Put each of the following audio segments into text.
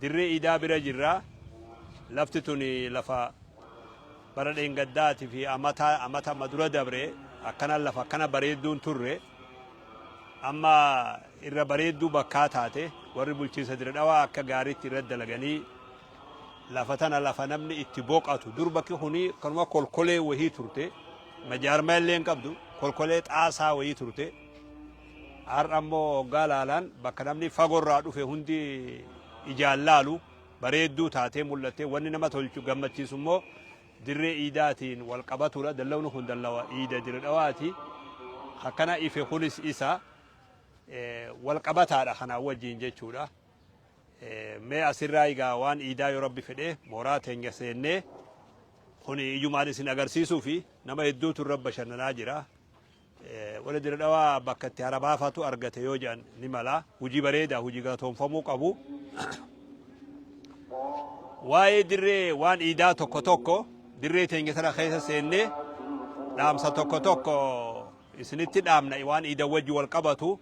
Dirree Iidaa bira jirra. Lafti tun lafa bara dheengaddaati fi amata amata amma dura dabre akkana lafa akkana bareedduu hin turre. Amma irra bareedduu bakkaa taate warri bulchiinsa Dirree Dhawaa akka gaariitti irra dalaganii lafa tana lafa namni itti boqatu dur bakki kuni kanuma kolkolee wahii turte majaarmaa illee hin qabdu kolkolee xaasaa wahii turte. Har'a immoo hoggaa laalaan bakka namni fagoorraa dhufe hundi ijaan laalu bareedduu taatee mul'atte wanni nama tolchu gammachiisu immoo dirree iidaatiin wal qabatudha. Dallawni kun dallawa iida Dirree Dhawaati. Akkana ife kunis isa wal qabataadha kanaa wajjin jechuudha. Mee asirraa egaa waan iidaa yoo rabbi fedhe mooraa teenya seennee kun ijumaan isin agarsiisuu fi nama hedduutu irra bashannanaa jira. Warri Dirre Dhawaa bakka itti hara baafatu argate yoo jedhan ni mala. Hojii bareeda, hojii galatoomfamuu qabu. Waa'ee dirree waan iidaa tokko tokko dirree teenya tana keessa seennee dhaamsa tokko tokko isinitti dhaamna waan iidan wajji wal qabatu.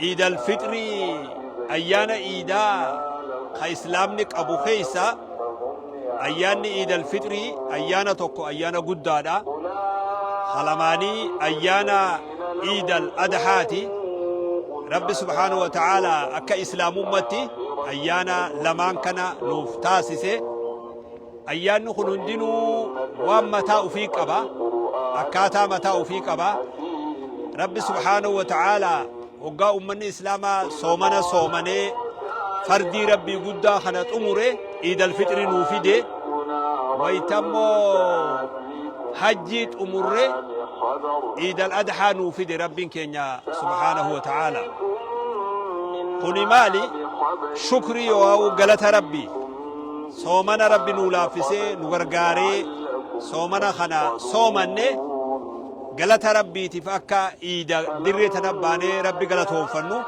Iid Al Fixrii ayyaana iidaa ka Islaamni qabu keessaa ayyaanni Iid Al Fixrii ayyaana tokko ayyaana guddaadha. Ka lamaanii ayyaana Iid Al Adhaati. Rabbi subhaanahu wa ta'aalaa akka Islaamummatti ayyaana lamaan kana nuuf taasise. Ayyaanni kun hundinuu waan mataa ufii qaba. Akkaataa mataa ufii qaba. Rabbi subhaanahu wa ta'aalaa hoggaa ummanni Islaamaa soomana soomanee fardii Rabbii guddaa kana xumure Iidal Fixrii nuu fide. Wayita immoo hajjii xumurre Iidal Adhaa nuu fide Rabbiin keenya subhaanahu wa ta'aalaa. Kuni maali? Shukrii yookaan galata Rabbii. soomana rabbi nuu laaffisee nu gargaaree soomana kana soomanne galata rabbiitiif akka iida dirree tana baanee rabbi galatoonfannu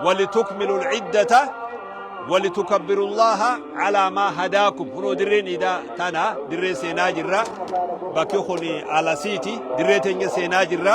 walitukmilu lciddata walitukabbiru llaha calaa maa hadaakum kunoo dirreen iida tana dirree seenaa jirra bakki kun alasiiti dirree teenya seenaa jirra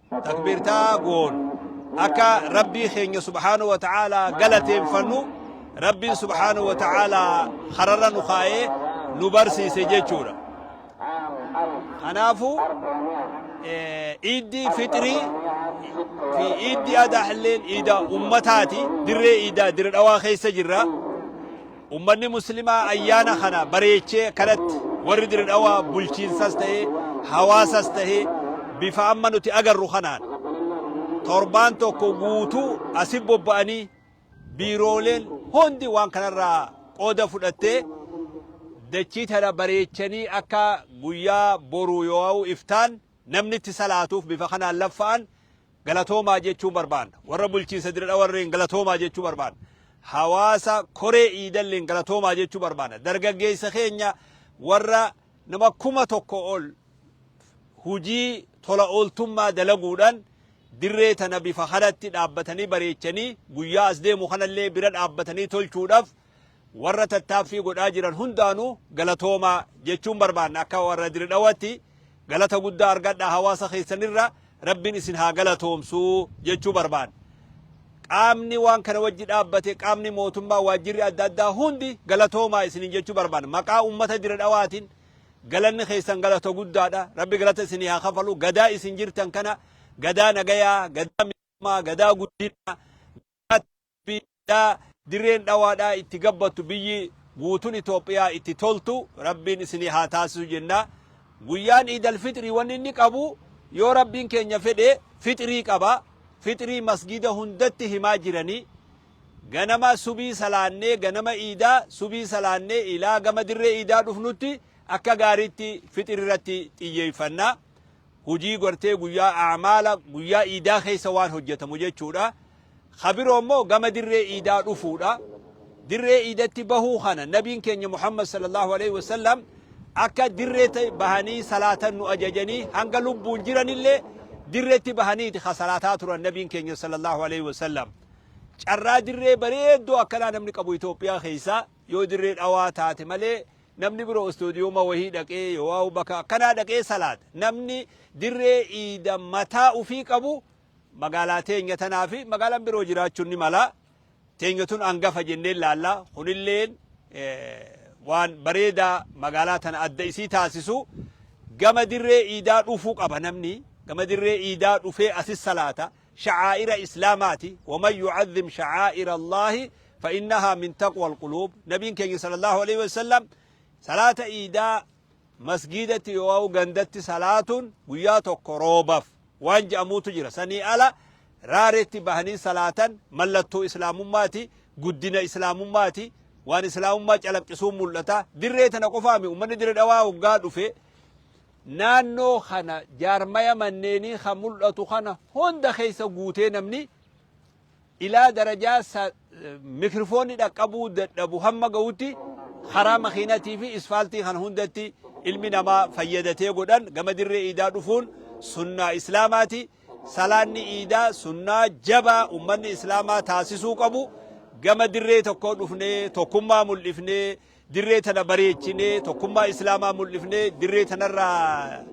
takbiirtaa goonu akka rabbii keenya subhaanahu wa ta'aalaa galateeffannu rabbiin subhaanahu wa ta'aalaa kararra nu kaa'ee nu barsiise jechuudha. Kanaafuu iiddii fixrii fi iiddii adaalleen iida ummataati dirree iidaa dirree dhawaa keessa jirra. Ummanni muslimaa ayyaana kana bareechee kanatti warri Diridhawaa bulchiinsas ta'ee hawaasas ta'ee bifa amma nuti agarru kanaan torbaan tokko guutuu asi bobba'anii biirooleen hundi waan kanarraa qooda fudhattee dachii tana bareechanii akka guyyaa boruu yoo'au iftaan namni itti salaatuuf bifa kanaan laffa'an galatoomaa jechuun barbaanna. Warra bulchiinsa Dire Dhawarreen galatoomaa jechuu barbaanna. Hawaasa koree Iidalleen galatoomaa jechuu barbaanna. Dargaggeessa keenya warra nama kuma tokko ol hujii tola ooltummaa dalaguudhaan dirree tana bifa kanatti dhaabbatanii bareechanii guyyaa as deemu kanallee bira dhaabbatanii tolchuudhaaf Warra tattaaffii godhaa jiran hundaanuu galatoomaa jechuun barbaanna akka warra diridhawatti galata guddaa argadhaa hawaasa keessanirra rabbiin isin haa galatoomsuu jechuu barbaanna. Qaamni waan kana wajji dhaabbate qaamni mootummaa waajjirri adda addaa hundi galatoomaa isinin jechuu barbaanna. Maqaa uummata diridhawaatiin galanni keessan galata guddaadha. Rabbi galata isin haa kafalu. Gadaa isin jirtan kana gadaa nagayaa, gadaa miidhamaa, gadaa guddinaa, Biyya dirreen dhawaadhaa itti gabbattu biyyi guutun Itoophiyaa itti toltu Rabbiin isinii haa taasisu jenna. Guyyaan Iid Alfixrii wanni inni qabu yoo Rabbiin keenya fedhe fixrii qaba. Fixrii masgiida hundatti himaa jiranii. Ganama subii salaannee ganama Iidaa subii salaannee ilaa gama dirree Iidaa dhufnutti akka gaariitti fixri irratti xiyyeeffanna. hujii gartee guyyaa a'maala guyyaa iidaa keessa waan hojjatamu jechuudha. Ka biroo immoo gama dirree iidaa dhufuudha. Dirree iidatti bahuu kana nabiin keenya Muhammad sallallahu alaihi wasallam akka dirree ta'e bahanii salaatan nu ajajanii hanga lubbuun jiranillee dirreetti bahaniiti ka salaataa turan nabiin keenya sallallahu alaihi wasallam. Carraa dirree bareedduu akkanaa namni qabu Itoophiyaa keessaa Yoo Dirree Dhawaa taate malee namni biroo Istoodiyooma wahii dhaqee yoowaa'u bakka akkanaa dhaqee salaata. Namni dirree iida mataa ufii qabu magaalaa teenya tanaa fi magaalaan biroo jiraachuun ni mala. Teenya tun hangafa jennee ilaalla. Kunilleen waan bareedaa magaalaa tana adda isii taasisu gama dirree iidaa dhufuu qaba namni. Gama dirree iidaa dhufee asis salaata. sha'aa'ira islaamaati waman yu'azzim sha'aa'ira allaahi fa'innahaa min taqwal quluub nabiin keenya sallallahu alaihi wasallam salaata iidaa masgiidatti yoo gandatti salaatuun guyyaa tokko roobaf waan je'amuutu jira sanii ala raareetti bahanii salaatan mallattoo islaamummaati guddina islaamummaati waan islaamummaa calaqqisuun mul'ata dirree tana qofaami ummanni dirree dhawaa hoggaa dhufe Naannoo kana jaarmaya manneenii kan mul'atu kana hunda keessa guutee namni ilaa darajaa sa mikrifoonni dhaqqabuu dadhabu hamma ga'utti karaa makiinatii fi isfaaltii kana hundatti ilmi namaa fayyadatee godhan gama dirree iidaa dhufuun sunnaa islaamaati. Salaanni iidaa sunnaa jabaa ummanni islaamaa taasisuu qabu gama dirree tokkoo dhufnee tokkummaa mul'ifnee Dirree tana bareechinee tokkummaa Islaamaa mul'ifnee dirree tanarraa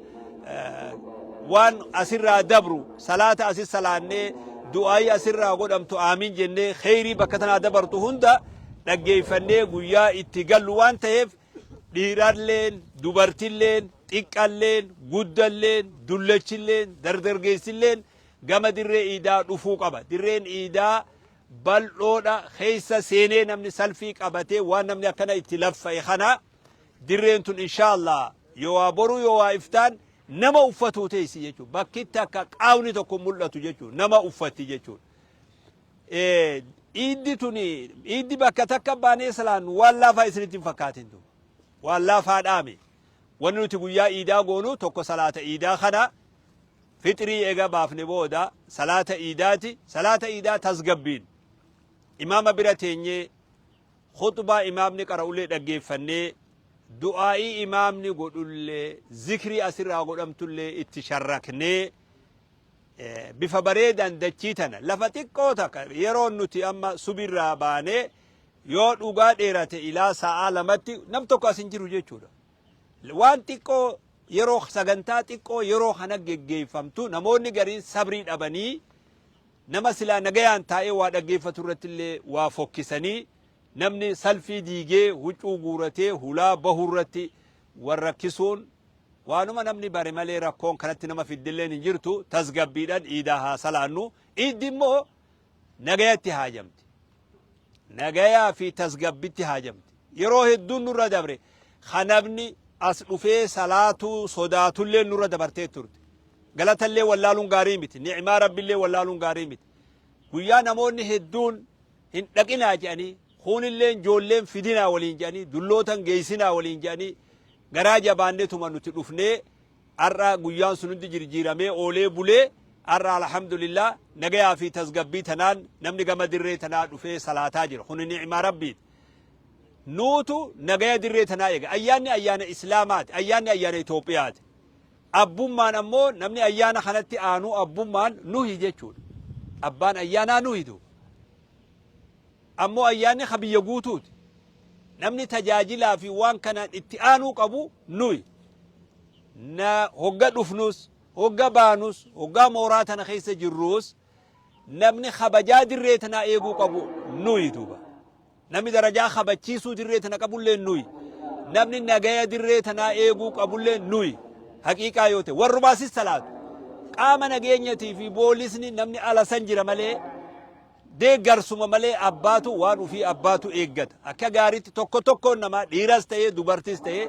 waan asirraa dabru salaata asis salaannee du'aayii asirraa godhamtu aamiin jennee kheyrii bakka tanaa dabartu hunda dhaggeeffannee guyyaa itti gallu waan ta'eef dhiiralleen dubartilleen xiqqalleen guddalleen dullachilleen dardargeessilleen gama dirree iidaa dhufuu qaba dirreen iidaa bal'oodha keessa seenee namni salfii qabatee waan namni akkana itti laffa'e kana dirreen tun inshaallah yoo waa boruu yoo waa iftaan nama uffatuu teessi jechuudha. Bakkitti akka qaawni tokko mul'atu jechuudha. Nama uffatti jechuudha. Iiddi tuni iiddi bakka takka baanee salaan waan laafaa isinitti hin fakkaatin tun. Waan laafaa dhaame. Wanni nuti guyyaa iidaa goonu tokko salaata iidaa kana Fixrii eega baafne booda salaata iidaati. Salaata iidaa tasgabbiin imaama bira teenyee khuxbaa imaamni qara'ullee dhaggeeffannee du'aa'ii imaamni godhullee zikrii asirraa godhamtullee itti sharraknee bifa bareedaan dachii tana lafa xiqqoo takka yeroon nuti amma subirraa baanee yoo dhugaa dheerate ilaa sa'aa lamatti nam tokko as hin jiru jechuudha. Waan xiqqoo yeroo sagantaa xiqqoo yeroo kana geggeeffamtu namoonni gariin sabrii dhabanii nama silaa nagayaan taa'ee waa dhaggeeffatu irratti illee waa fokkisanii namni salfii diigee huccuu guuratee hulaa bahu irratti wal rakkisuun waanuma namni bare malee rakkoon kanatti nama fiddilleen hin jirtu tasgabbiidhaan iidaa haa salaannu iiddi immoo Nagaya itti haajamte. Nagayaa fi tasgabbitti haajamte. Yeroo hedduun nurra dabre kan namni as dhufee salaatuu sodaatullee nurra dabartee turte. Galatallee wallaaluun gaarii miti. Ni'imaa rabbillee wallaaluun gaarii miti. Guyyaa namoonni hedduun hin dhaqinaa jedhanii kuunilleen joolleen fidinaa waliin jedhanii dullootan geessinaa waliin jedhanii garaa jabaannetuma nuti dhufnee Har'a guyyaan sun hundi jirjiiramee oolee bulee har'a alhamdulillah nagayaa fi tasgabbii tanaan namni gama dirree tanaa dhufee salaataa jira. Kuni ni'ima Rabbiiti. Nuutu nagaya dirree tanaa eega. Ayyaanni ayyaana Islaamaati. Ayyaanni ayyaana Itoophiyaati. Abbummaan ammoo namni ayyaana kanatti aanuu abbummaan nuhi jechuudha. Abbaan ayyaanaa nuhitu. Ammoo Ayyaanni ka biyya guutuuti. Namni tajaajilaa fi waan kanaan itti aanuu qabu nuyi. Na hogga dhufnus, hogga baanus, hoggaa mooraa tana keessa jirruus namni kabajaa dirree tanaa eeguu qabu nuyi duuba. Namni darajaa kabachiisuu dirree tana qabullee nuyi. Namni nagaya dirree tanaa eeguu qabullee nuyi. Haqiiqaa yoo ta'e warruma asis salaatu. Qaama nageenyatii fi boolisni namni ala san jira malee Deeggarsuma malee abbaatu waan ufii abbaatu eeggata. Akka gaariitti tokko tokkoon namaa dhiiras ta'ee dubartis ta'ee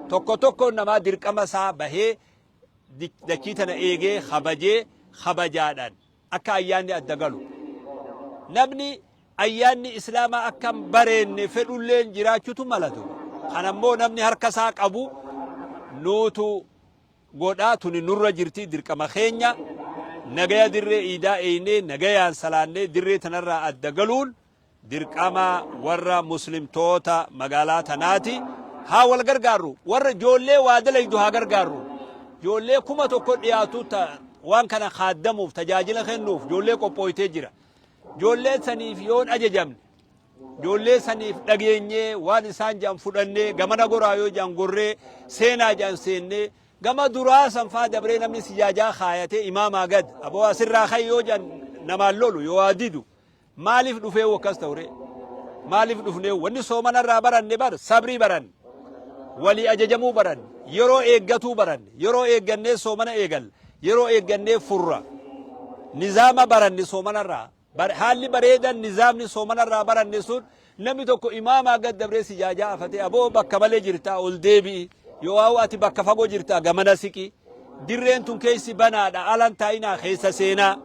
tokko tokkoon namaa dirqama isaa bahee di- dachii tana eegee kabajee kabajaadhaan akka ayyaanni adda galu. Namni ayyaanni islaamaa akka hin bareenne fedhulleen jiraachuutu malatu. Kanammoo namni harka isaa qabu nuutu godha tuni nurra jirti dirqama keenya nagaya dirree iidaa eeynee nagayaan salaannee dirree tanarraa adda galuun dirqama warra muslimtoota magaalaa tanaati haa wal gargaarru warra joollee waa dalaydu haa gargaarru joollee kuma tokko dhiyaatu ta waan kana kaaddamuuf tajaajila kennuuf joollee qophooytee jira joollee saniif yoon ajajamne Ijoollee saniif dhageenyee waan isaan jedhan fudhannee gamana goraa yoo jedhan gorree seenaa jedhan seennee gama duraa sanfaa dabree namni sijaajaa kaayatee imaamaa gad aboo asirraa kan yoo jedhan namaan lolu yoo waa didu maaliif dhufee wakkas ta'uree maaliif dhufnee wanni soomanarraa baranne bar sabrii baranne walii ajajamuu baranne yeroo eeggatuu baranne yeroo eeggannee soomana eegal yeroo eeggannee furra nizaama baranne soomanarraa Bar haalli bareedan nizaamni soomana irraa baranne sun namni tokko imaamaa gad dabree sijaajaa afatee aboo bakka malee jirtaa ol deebi'i yoo'aawu ati bakka fagoo jirtaa gamana siqi dirreen tun keessi banaadha alan taa'inaa keessa seenaa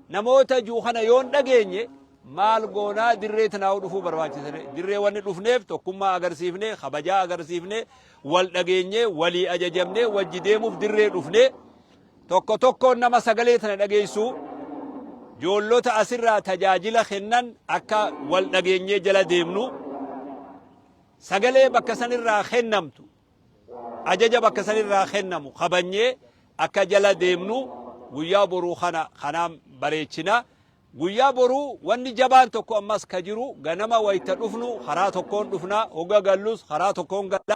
namoota juu kana yoon dhageenye maal goonaa dirree tanaa'u dhufuu barbaachisne dirree wanni dhufneef tokkummaa agarsiifne kabajaa agarsiifne wal dhageenye walii ajajamne wajji deemuuf dirree dhufne Tokko tokkoon nama sagalee tana dhageessuu joollota asirraa tajaajila kennan akka wal dhageenyee jala deemnu sagalee bakka sanirraa kennamtu ajaja bakka sanirraa kennamu kabanyee akka jala deemnu guyyaa boruu kana kanaan bareechina. Guyyaa boruu wanni jabaan tokko ammas ka jiru ganama wayita dhufnu karaa tokkoon dhufna hogga gallus karaa tokkoon galla.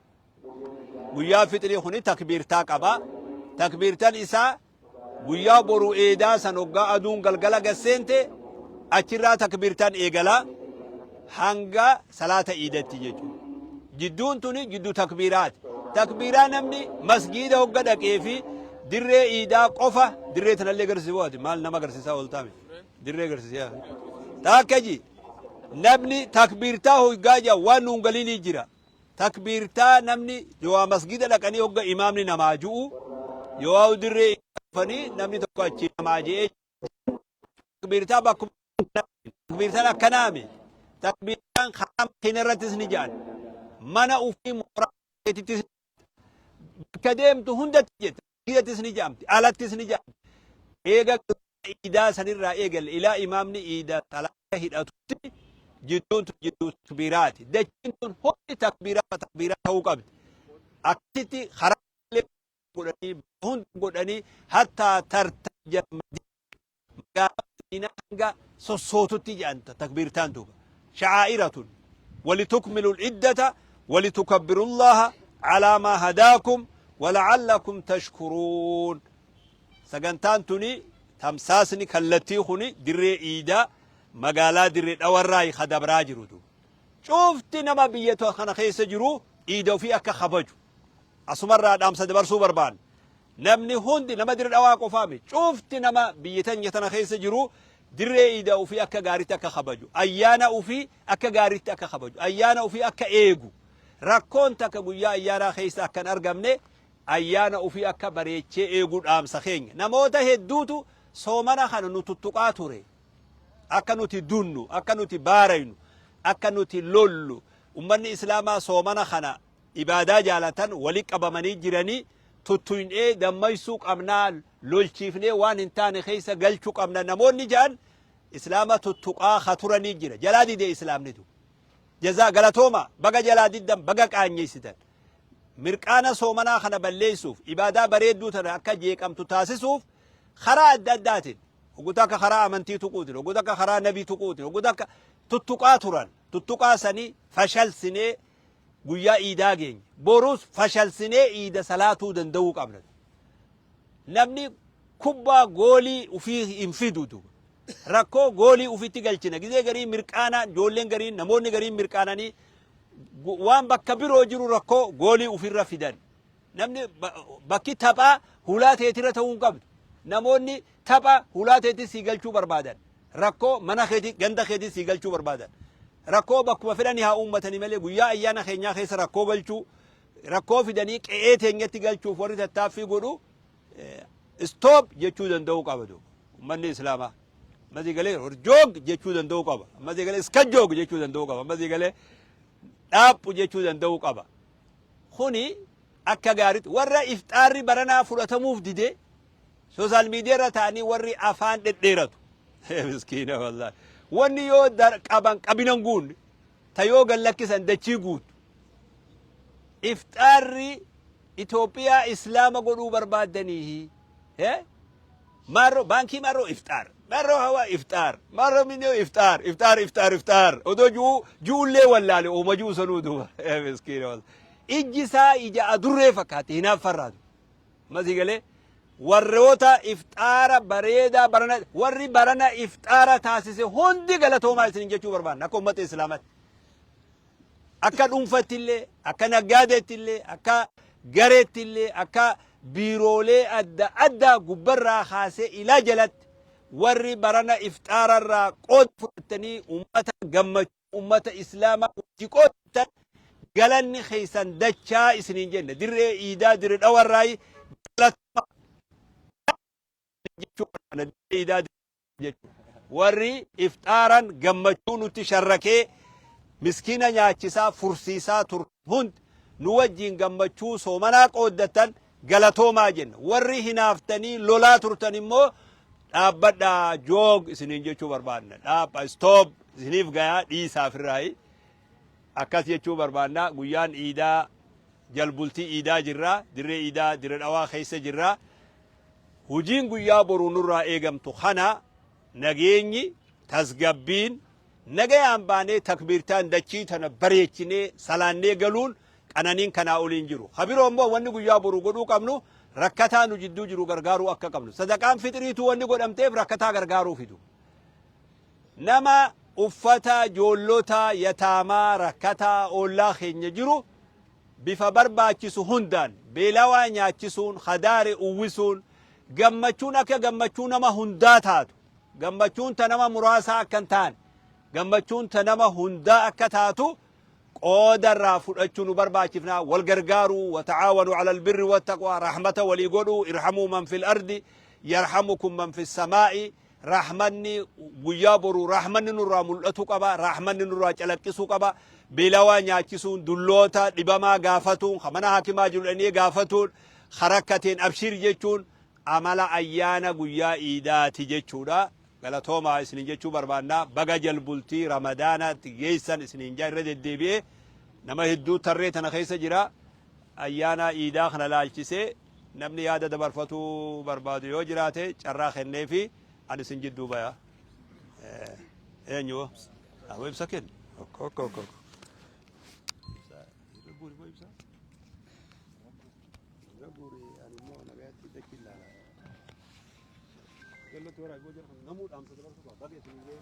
Guyyaan fixrii kuni takbiirtaa qaba. Takbiirtan isaa guyyaa boru eedaa san hoggaa aduun galgala gad seente achirraa takbiirtan eegala hanga salaata iidatti jechuudha. Jidduun tuni jiddu takbiiraati. Takbiiraa namni masgiida hogga dhaqee fi dirree iidaa qofa dirree tanallee agarsiisu waati maal nama agarsiisaa ooltaame dirree agarsiisaa taakka ji namni takbiirtaa hoggaa jaa waan nuun galii ni jira. Takbiirtaa namni yooaa masgiida dhaqanii hogga imaamni namaa ju'u yooaa dirree isaa dhufanii namni tokko achi namaa je'ee takbiirtaa bakkuma takbiirtaan akkanaami takbiirtaan karaa makiina irrattis ni ja'an mana ufii mooraa keetittis bakka deemtu hundatti jetta Baadiyyattis ni ja'amti, alattis ni ja'amti. Eega guyyaa iidaa sanirraa eegalle ilaa imaamni iida salaata hidhatutti jidduun tun jidduu takbiiraati. Dachiin tun hundi takbiirarra takbiiraa ta'uu qabdi. Akkasitti karaa illee godhanii, hunda godhanii hattaa tartajal madiina. magaalaa Madiinaa hanga sossootutti jedhan takbiirtaan duuba. Sha'aa'iratun walitukmilul iddata walitukabbirullaha alaa maa hadaakum wala'allakum tashkuruun. Sagantaan tuni tamsaasni kallattii kuni dirree iidaa magaalaa dirree dhawarraa ka dabraa jiru duuba. Cufti nama biyya kana keessa jiru iida ofii akka kabaju asumarraa dhaamsa dabarsuu barbaanna. Namni hundi nama Dire Dhawaa qofaa miti. Cufti nama biyya teenya tana keessa jiruu dirree iida ufii akka gaaritti akka kabaju, ayyaana ufii akka gaaritti akka kabaju, ayyaana ufii akka eegu, rakkoon takka guyyaa ayyaanaa keessa akka hin argamne ayyaana ufii akka bareechee eegu dhaamsa keenya. Namoota hedduutu soomana kana nu tuttuqaa ture. Akka nuti dunnu, akka nuti baaraynu, akka nuti lollu ummanni Islaamaa soomana kana ibaadaa jaalatan wali qabamanii jiranii tuttuyn'ee dammaysuu qabnaa lolchiifnee waan hin taane keessa galchu qabna namoonni ja'an islaama tuttuqaa ka turanii jira jalaa dide islaamni du jazaa galatooma baga jalaa diddan baga qaanyeysitan mirqaana soomanaa kana balleeysuuf ibaadaa bareedduu tana akka jeeqamtu taasisuuf karaa adda addaatiin hoggota akka karaa amantii tuquutiin hoggota akka karaa nabii tuquutiin hoggota akka tuttuqaa turan tuttuqaa sanii fashalsinee guyyaa iidaa geenye borus fashalsinee iida salaatuu danda'uu qabna namni kubbaa goolii ufii hin fidu duba rakkoo goolii ufitti galchina gizee garii mirqaanaan ijoolleen garii namoonni garii mirqaananii gu- waan bakka biroo jiru rakkoo goolii ufirra fidan Namni bakki taphaa hulaa teetirra ta'uu hin qabdu. Namoonni tapha hulaa teetti sii galchuu barbaadan. Rakkoo mana keetii ganda keetii sii galchuu barbaadan. Rakkoo bakkuma fedhanii haa uummatanii malee guyyaa ayyaana keenyaa keessa rakkoo galchuu rakkoo fidanii qe'ee teenyatti galchuuf warri tattaaffii godhu istoop jechuu danda'uu qaba duuba. Uummanni Islaamaa. Ammasii galee horjoog jechuu danda'uu qaba. Ammasii galee iskajoog jechuu danda'uu qaba. Ammasii galee dhaaphu jechuu danda'uu qaba. kuni akka gaaritti warra ifxaarri baranaa fudhatamuuf dide sooshaal miidiyaarra ta'anii warri afaan dhedheeratu. Miskiina wallaahi. Wanni yoo dar- qaban qabinan guunne ta yoo gad lakkisan dachii guutu. Ifxaarri Itoophiyaa Islaama godhuu barbaaddaniihi. Hee? Maarroo baankii maarroo ifxaar. Maarroo hawaa ifxaar. Maarroo minnoo ifxaar. Ifxaar ifxaar ifxaar. Odoo ju'uu ju'ullee wallaale ooma ju'u sanuu duuba. Eh, Miskiina wal. Ijji isaa ija adurree fakkaatti hinaaffarraa duuba. Masii galee warroota ifxaara bareedaa barana warri barana ifxaara taasise hundi galatoomaa isin jechuu barbaanna akka uummata islaamaatti. Akka dhuunfatti illee, akka naggaadeetti illee, akka gareetti illee, akka biiroolee adda addaa gubbarraa kaasee ilaa jalatti warri barana ifxaararraa qooda fudhattanii uummata gammachuu uummata islaamaa wajji qooddattan galanni keessan dachaa isiniin jenna. Dirree iidaa dirree dhawarraayi galatuma jechuu barbaada. Dirree iidaa Warri ifxaaran gammachuu nutti sharrakee miskiina nyaachisaa, fursiisaa turtan hundi nu wajjin gammachuu soomanaa qooddattan galatoomaa jenna. Warri hinaaftanii lolaa turtan immoo dhaabbadhaa, joog isiniin jechuu barbaadna. Dhaabha, stop, isiniif gayaa dhiisaa firraayi. Akkas jechuu barbaadna. Guyyaan iidaa jalbultii iidaa jirra. Dirree iidaa Dire Dhawaa keessa jirra. Hojiin guyyaa boruu nurraa eegamtu kana nageenyi, tasgabbiin, nagayaan baanee takbiirtaan dachii tana bareechinee salaannee galuun qananiin kanaa olii hin jiru. Ka biroo immoo wanni guyyaa boruu godhuu qabnu rakkataa nu jidduu jiru gargaaruu akka qabnu. Sadaqaan fixriituu wanni godhamteef rakkataa gargaaruufi du. Nama uffata joollota, yataamaa, rakkataa, oollaa keenya jiru bifa barbaachisu hundaan beelawaa nyaachisuun, hadaare uwwisuun, gammachuun akka gammachuu nama hundaa taatu, gammachuun ta nama muraasaa akka hin taane, gammachuun ta nama hundaa akka taatu qooda irraa fudhachuu nu barbaachifna. Wal gargaaruu, wata'aawanuu alal birri wattaqwaa, rahmata walii godhuu, irhamuu man fil ardi, yarhamukum man fis samaa'i, Rahmanni guyyaa boruu rahmanni nurraa mul'atu qaba, rahmanni nurraa calaqqisu qaba. Beelawaa nyaachisuun, dulloota, dhibamaa gaafatuun, ka mana hakimaa jiru dhaqnee gaafatuun, ka rakkateen abshiir jechuun amala ayyaana guyyaa iidaati jechuudha. Galatoomaa isinin jechuu barbaanna. Baga jalbultii ramadaanaatti geessan isinin jaa irra deddeebi'ee nama hedduu tarree tana keessa jira. Ayyaana iidaa kana laalchisee Namni yaada dabarfatuu barbaadu yoo jiraate carraa kenneefi ani isin jidduu baya. Eenyu? Amoo ibsa kenni. Ok, ok, ok. ok. Namuu dhaamsa dabarsuu qaba. Baga isin illee.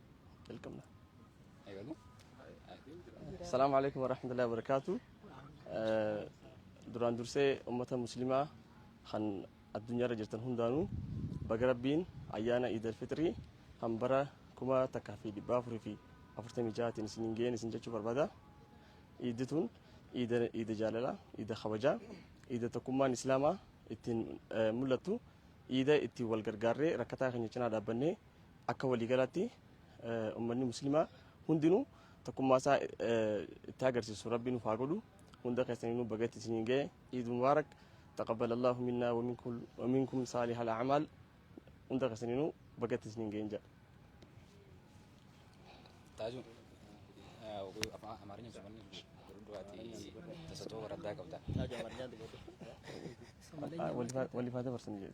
jalqabna. Eegalu. Salaamu alaikum warahmatullahi wabarakaatu. Duraan dursee uummata muslimaa kan addunyaarra jirtan hundaanuu baga rabbiin ayyaana Iidal Fixrii kan bara kuma takkaa fi dhibba afurii fi afurtamii ja'aatiin isiniin ga'een isin jechuu barbaada. Iiddi tun iida iida jaalalaa, iida kabajaa, iida tokkummaan islaamaa ittiin eh, mul'attu, iida ittiin wal gargaarree rakkataa keenya cinaa dhaabbannee Akka waliigalaatti ummanni muslimaa hundinuu tokkummaa isaa itti agarsiisu rabbi nuuf haa godhu hunda keessaniinuu baga itti isiniin ga'e iid mubaarak taqabbal allahu minnaa wa minkum saalihal a'maal hunda keessaniinuu baga itti isiniin ga'e jedha. Taajuu afaan Amaarinya jedhaman dubartii tasatoo waraddaa qabda. Waliif haa dabarsan jedhe.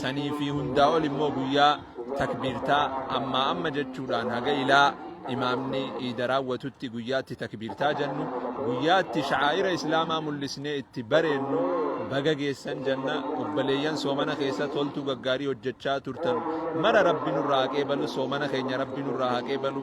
sanii fi hundaa ol immoo guyyaa takbiirtaa ammaa amma jechuudhaan haga ilaa imaamni iida raawwatutti guyyaatti takbiirtaa jennu guyyaatti sha'aa'ira islaamaa mul'isnee itti bareennu baga geessan janna obbaleeyyan soomana keessa toltuu gaggaarii hojjechaa turtan mara rabbi nurraa haqee balu soomana keenya rabbi nurraa haqee balu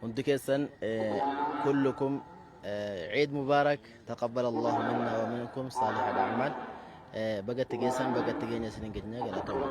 Hundi keessan kullukum Eid Mubarak taqabbal Allahu minna wa minkum saalih al-a'mal baga itti geessan baga itti geenya isinin geenye galatoomaa.